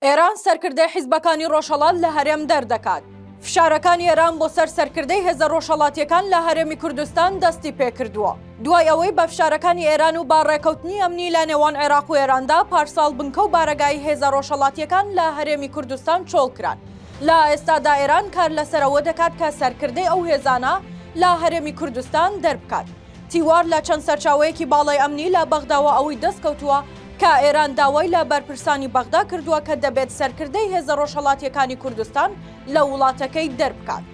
ئێران سەرکردەی حیزبەکانی ڕۆژهەڵات لە هەرێم دەردەکات. فشارەکانی ئێران بۆ سەر سەرکردەی هێزە ڕۆژهەڵاتییەکان لە هەرێمی کوردستان دەستی پێکردووە، دوای ئەوەی بە فشارەکانی ئێران و بە ڕێکەوتنی ئەمنی لە نێوان عێراق و ئێراندا پارساڵ بنکە و بارەگای هێزە ڕۆژهەڵاتییەکان لە هەرێمی کوردستان چۆڵ کران. لە ئێستادا ئێران کار لەسەر ئەوە دەکات کە سەرکردەی ئەو هێزانە لە هەرێمی کوردستان دەربکات. تیوار لە چەند سەرچاوەیەکی باڵای ئەمنی لە بەغداوە ئەوەی دەستکەوتووە کە ئێران داوای لە بەرپرسانی بەغدا کردووە کە دەبێت سەرکردەی هێزە ڕۆژهەڵاتییەکانی کوردستان لە وڵاتەکەی دەربکات.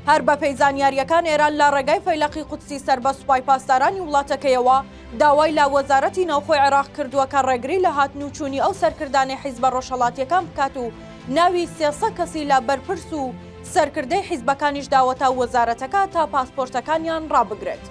هەر بەپێی زانیارییەکان ئێران لە ڕێگای فەیلەقی قودسی سەربە سوپای پاسدارانی وڵاتەکەیەوە داوای لە وەزارەتی ناوخۆی عێراق کردووە کە ڕێگری لە هاتن و چوونی ئەو سەرکردانەی حیزبە ڕۆژهەڵاتییەکان بکات و ناوی سێ سەد کەسی لە بەرپرس و سەرکردەی حیزبەکانیش داوەتە وەزارەتەکە تا پاسپۆرتەکانیان ڕابگرێت.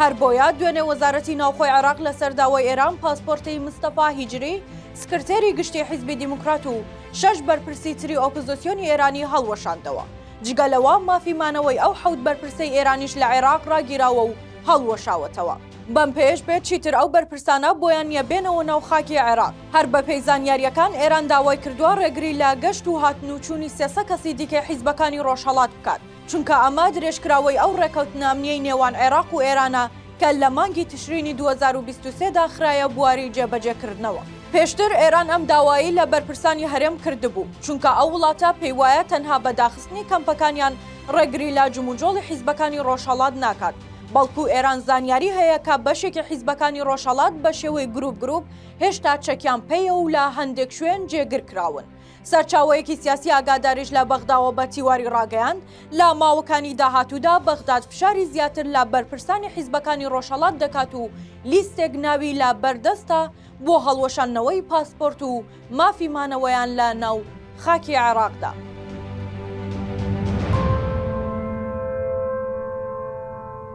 هەر بۆیە دوێنێ وەزارەتی ناوخۆی عێراق لەسەر داوای ئێران پاسپۆرتی مستەفا هیجری سکرتێری گشتی حیزبی دیموکرات و شەش بەرپرسی تری ئۆپزۆسیۆنی ئێرانی هەڵوەشاندەوە. جگە لەوە مافی مانەوەی ئەو حەوت بەرپرسەی ئێرانیش لە عێراق ڕاگیراوە و هەڵوەشاوەتەوە. بەم پێیەش بێت چیتر ئەو بەرپرسانە بۆیان نییە بێنەوە ناو خاکی عێراق. هەر بەپێی زانیارییەکان، ئێران داوای کردووە ڕێگری لە گەشت و هاتن و چوونی سێ سە کەسی دیکەی حیزبەکانی ڕۆژهەڵات بکات، چونکە ئەمە درێژکراوەی ئەو ڕێکەوتنە ئەمنییەی نێوان عێراق و ئێرانە کە لە مانگی تشرینی دوو هەزار و بیست و سێ دا خرایە بواری جێبەجێکردنەوە. پێشتر ئێران ئەم داوایەی لە بەرپرسانی هەرێم کردبوو، چونکە ئەو وڵاتە پێی وایە تەنها بە داخستنی کەمپەکانیان ڕێگری لە جموجۆڵی حیزبەکانی ڕۆژهەڵات ناکات، بەڵکو ئێران زانیاری هەیە کە بەشێکی حیزبەکانی ڕۆژهەڵات بە شێوەی گروپ گروپ هێشتا چەکیان پێیە و لە هەندێک شوێن جێگر کراون. سەرچاوەیەکی سیاسی ئاگاداریش لە بەغداوە بە تیواری ڕاگەیاند، لە ماوەکانی داهاتوودا بەغداد فشاری زیاتر لە بەرپرسانی حیزبەکانی ڕۆژهەڵات دەکات و لیستێک ناوی لە بەردەستە بۆ هەڵوەشاندنەوەی پاسپۆرت و مافی مانەوەیان لە ناو خاکی عێراقدا.